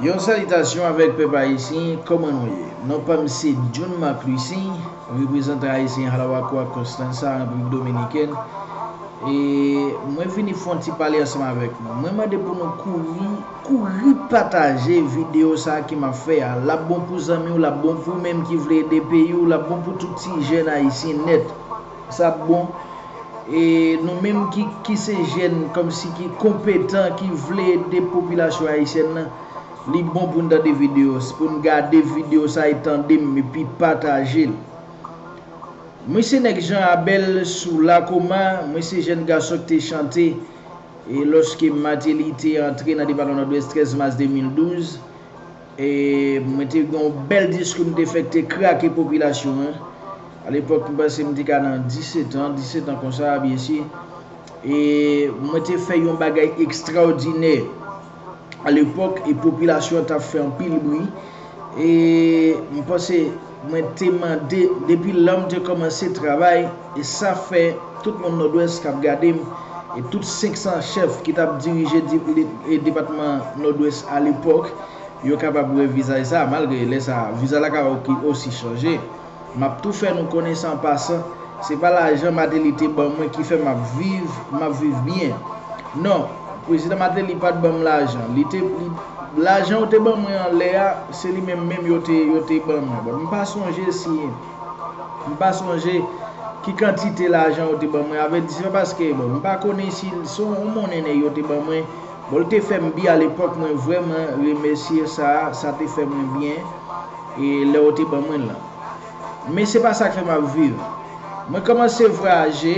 Yon salitasyon avèk pèp ayisyen, kòman nou ye? Non pa m se John Marc Lucin, reprezantan ayisyen Halawakuak Constanza, Repiblik Dominikèn, e mwen vini fè yon ti pale ansanm avèk nou. Mwen mande pou nou kouri, kouri pataje videyo sa a ke m ap fè a. L ap bon pou zanmi w, l ap bon pou ou menm ki vle ede peyi w, l ap bon pou tout ti jèn ayisyen nèt. Sa ap bon. E nou menm ki ki se jèn kòmsi ki konpetan ki vle ede popilasyon ayisyèn nan, li bon pou n tande videyo, pou n gade videyo sa e tande m epi pataje l. Mwen se nèg Jan Abèl sou Lakoma, mwen se jèn gason ki te chante e lòske Mateli te antre nan depatman Nòdwès 13 mas 2012. Mwen te gen yon bèl disko m te fè k te krake popilasyon an. A lepòk m panse m te ka nan 17 an, 17 an konsa a byensi. E mwen te fè yon bagay ekstraòdinè. A lepòk e popilasyon an t ap fè anpil bri. E m panse. Mwen te mande depi lèm te kòmanse travay e sa fè tout moun Nòdwès kap gadem e tout 500 chèf ki tap dirije depatman Nòdwès a lepòk yo kapab wè vizaj sa malgre lè sa vizaj la ka osi chanje map tou fè nou konnen san pasan se pa lajan Mateli te ban mwen ki fè map viv map viv byen non Prezidan Mateli pat banm lajan li te lajan yo te ban mwen an lè a se li menm menm yo te yo te ban mwen bon m pa sonje si m pa sonje ki kantite lajan yo te ban mwen avrèdi se pa paske bon m pa konnen si se yon monnen nèg yo te ban mwen bon l te fè m byen alepòk mwen vrèman remèsye sa sa te fè mwen byen e lè yo te ban mwen l lan. Men se pa sa k fè m ap viv. Mwen kòmanse vwayaje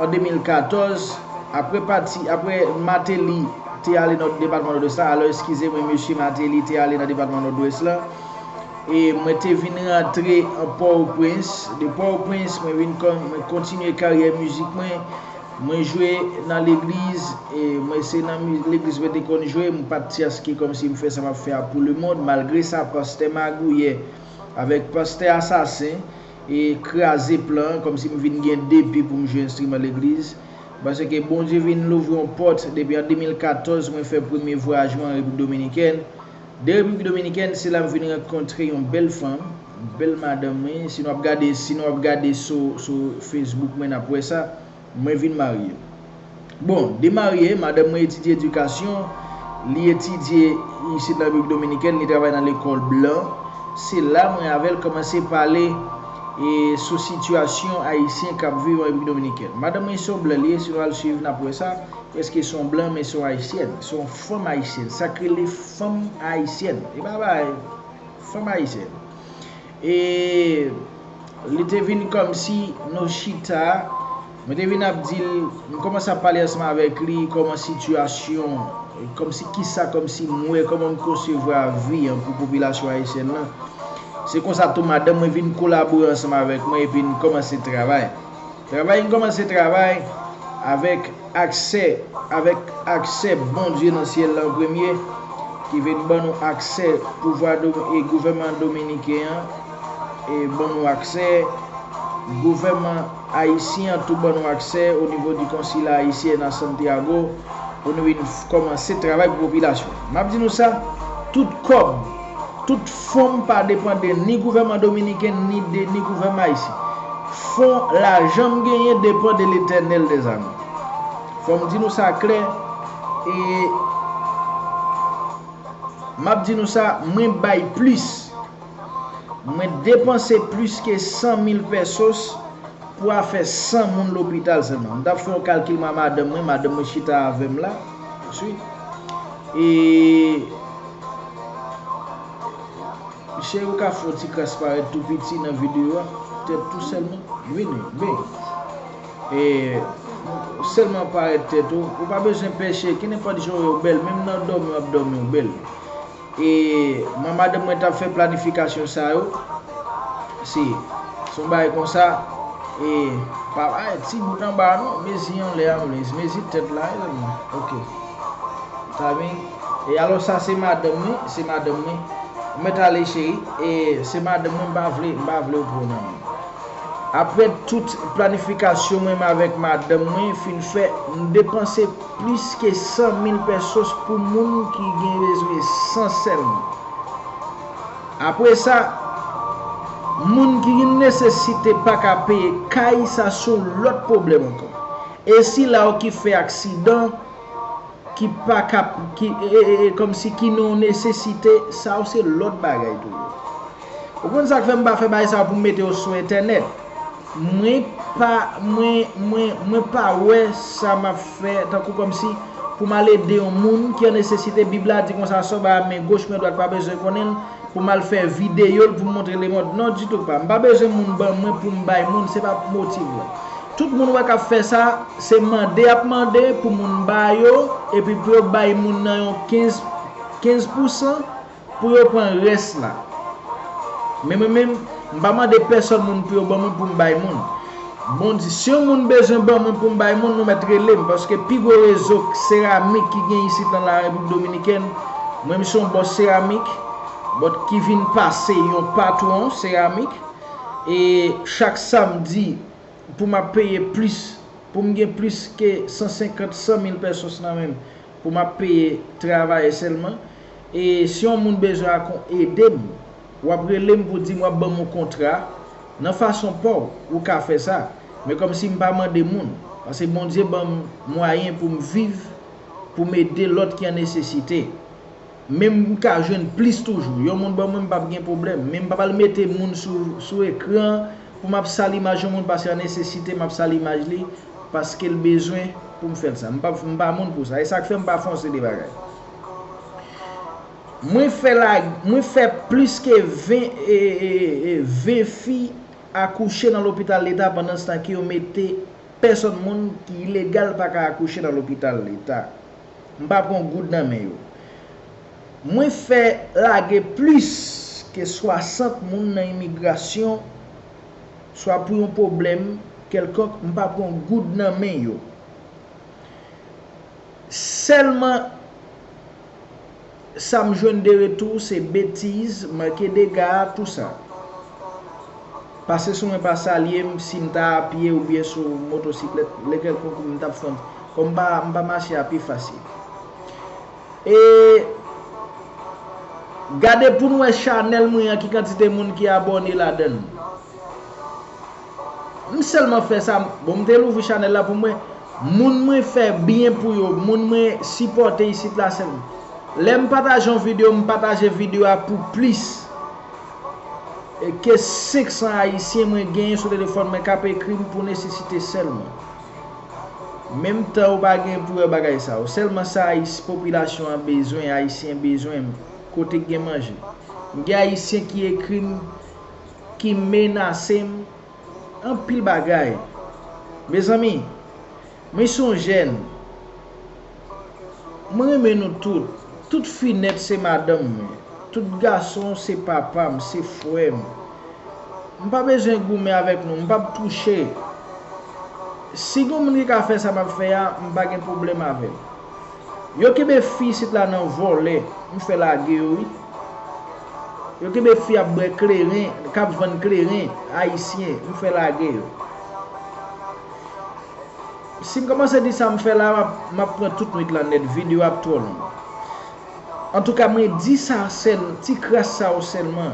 an 2014, apre pati, apre Mateli te ale nan depatman Nòdwès la, alò eskize mwen mesye Mateli te ale nan depatman Nòdwès la, e mwen te vin rantre an Pòtoprens. De Pòtoprens mwen vin, mwen kontinye karyè mizik mwen. Mwen jwe nan legliz, mwen se nan legliz mwen te konn jwe, m pat tyans ki kòmsi m fè sa map fè a pou lemond, malgre sa pastè magouyè avèk pastè asasen e kraze plan, kòmsi m vin gen depi pou m jwe enstriman legliz, paske Bondye vin louvri yon pòt depi an 2014 mwen fè premye vwayaj mwen an Repiblik Dominikèn. De Repiblik Dominikèn se la m vin rankontre yon bèl fanm, bèl madanm wi, si nou ap gade si nou ap gade sou Facebook mwen nap wè sa, mwen vin marye. Bon, de marye, madanm mwen etidye edikasyon, li etidye isit nan Repiblik Dominikèn, li travay nan lekòl blan, se la mwen avè l kòmanse pale sou sitiyasyon ayisyen kap viv an Repiblik Dominikèn. Madanm mwen se yon blan li ye, si nou al swiv nap wè sa, prèske se yon blan men se yon ayisyèn. Fanm ayisyèn, sa k rele fanm ayisyèn, e pa bagay, fanm ayisyèn. E li te vin kòmsi nou chita, mwen te vin ap di l, m kòmanse ap pale ansanm avèk li, kòman sitiyasyon, kòmsi kisa, kòmsi m wè, kòman m konsevwa vi an pou popilasyon ayisyèn lan. Se konsa tou madanm mwen vin kolabore ansanm avèk mwen epi n kòmanse travay. Travay Kòmanse travay avèk aksè avèk aksè Bondye nan syèl la an premye ki vin ban nou aksè pouvwa e gouvèman dominiken an e ban nou aksè gouvèman ayisyen an tou ban nou aksè o nivo di konsila ayisyen na Santiago pou nou vin kòmanse travay pou popilasyon map di nou sa tout kòb Tout fon pa depande ni gouvèman dominiken ni de ni gouvèman ayisyen. Fon lajan m genyen depan de letènèl dè zame. Fò m di nou sa klè e m ap di nou sa mwen bay plis. Mwen depanse plis ke 100 mil pèsos pou afè 100 moun lopital sèlman. M t ap fè yon kalkil mwen a madanm mwen, madanm mwen chita avè m la. E. Cheri ou ka fè yon ti kras parèt tou piti nan video a tèt tou sèlman vini ben e sèlman parèt tèt ou ou pa bezwen pè cheri ki nenpòt jan ou ye ou bèl menm nan dòmi wap dòmi ou bèl e mwen madanm mwen tap fè planifikasyon sa yo si son bagay konsa e pa ay ti bout anba non mezi anlè a mezi tèt la ok ta vin E alò sa se madanm mwen, se madanm mwen. Ou mèt ale cheri, e se madanm mwen m pa vle, m pa vle ou pran nan menm. Aprè tout planifikasyon mwen m avèk madanm mwen fin fè, m depanse plis ke 100 mil pesos pou moun ki gen bezwen san sèlman. Apre sa, moun ki gen nesesite pa ka peye kay sa son lòt pwoblèm ankò. E si la ou ki fè aksidan, Ki pa kap, ki, ee, kòmsi ki non nesesite, sa yo se lòt bagay toujou. Ou konn sa k fè m pa fè bagay sa yo pou m mete yo sou entènèt? Mwen pa, mwen, mwen, mwen pa wè sa m ap fè tankou kòmsi pou m al ede yon moun ki an nesesite, Bib la di konsa, sò ba a men goch men dwat pa bezwen konnen l, pou m al fè videyo l pou m montre lemond. Non ditou pa. M pa bezwen moun ban mwen pou m bay moun, se pa motiv la. Tout moun wè k ap fè sa, se mande y ap mande pou moun ba yo, epi pou yo bay moun nan yon 15, 15 pousan, pou yo pran rès la. Men mwen menm, m pa mande pèsòn moun pou yo ban mwen pou m bay moun. Moun di, si yon moun bezwen ban mwen pou m bay moun, nou mèt rele m, paske pi gwo rezo seramik ki gen isit nan la Repiblik Dominikèn, mwen m se yon bòs seramik, bòt ki vin pase yon patwon seramik, e chak samdi pou m ap peye plis, pou m gen plis ke 150, 100 mil pèsos nan men m, pou m ap peye travayè sèlman, e si yon moun bezwen a kon ede m. W ap rele m pou di m w ap ban m yon kontra, nan fason pa w, ou ka fè sa, men kòmsi m pa mande moun, pase Bondye ban m mwayen pou m viv, pou m ede lòt ki an nesesite. Men m ka jwenn plis toujou, yon moun ban mwen m p ap gen pwoblèm, men m p ap al mete moun sou ekran an pou m ap sal imaj yon moun pase an nesesite, m ap sal imaj li paske l bezwen pou m fè l sa. M pa moun pou sa, e sa k fè m pa fonse de bagay. Mwen fè lag mwen fè plis ke 20 20 fi akouche nan lopital leta pandanstan ke yo mete pèsòn moun ki ilegal pa ka akouche nan lopital leta m pa pran goud nan men yo mwen fè lage plis ke 60 moun nan imigrasyon swa pou yon pwoblèm kèlkonk m pa pran goud nan men yo sèlman Sa m jwenn de retou se betiz, manke dega, tou sa. Pase sou mwen pa salye m si m ta a pye oubyen sou motosiklèt, lè kèlkonk m t ap fè kòm m pa mache a pi fasil. E Gade pou n wè chanèl mwen an ki kantite moun ki abòne ladan l. M selman fè sa bon m te louvri chanel la pou mwen moun mwen fè byen pou yo moun mwen sipòte isit la se lè m pataje yon video m pataje video a pou plis ke 500 ayisyen mwen genyen sou telefòn mwen kap ekri m pou nesesite selman menm tan ou pa gen pou wè bagay sa yo selman sa ayis popilasyon an bezwen ayisyen bezwen kote gen manje m gen ayisyen ki ekri m. ki menasem anpil bagay mezanmi mwen son jèn mwen renmen nou tout tout fi nèt se madanm mwen tout gason se papam se frèm m pa bezwen goumen avèk nou m pap touche si gon moun ki ka fè sa map fè a m pa gen pwoblèm avèl. Yo kenbe fi isit la nan vòlè m fè lage yo wi yo kenbe fi ap bwè kleren kap vann kleren ayisyen m fè lage yo sim kòmanse di sa m fè la map pran tout nwit lan nèt video a ap twò long antouka mwen di sa sèl ti kras sa yo sèlman.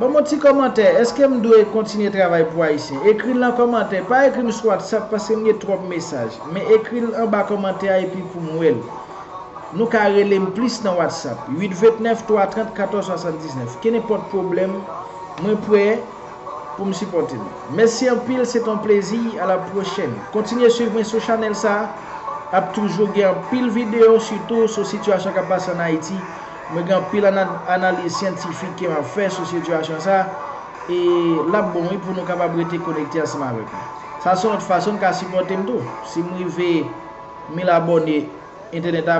Banm yon ti kòmantè, eske m dwe kontinye travay pou Ayisyen? Ekri l nan kòmantè, pa ekri m sou WhatsApp paske m gen twòp mesaj, men ekri l anba kòmantè a epi pou m wè l. Nou ka rele m plis nan WhatsApp, 8 29 3 30 14 79. Kenenpòt pwoblèm, mwen prè pou m sipòte nou. Mèsi anpil, se te yon plezi, a la pwochèn. Kontinye swiv mwen sou chanèl sa a, ap toujou gen anpil videyo sitou sou sitiyasyon k ap pase an Ayiti, Mwen gen anpil analiz syantifik ke map fè sou sitiyasyon sa e lap bon wi pou nou kapab rete konekte ansanm avèk mwen. Sa son lòt fason n ka sipòte m tou. Si m rive 1000 abòne entènèt la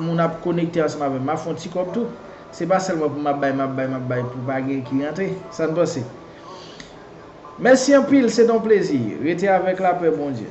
moun ap konekte ansanm avèm map fè yon ti kòb tou. Se pa sèlman pou map bay map bay map bay pou pa gen ki rantre. Sa n panse? Mèsi anpil se te yon plezi. Rete avèk lapè Bondye.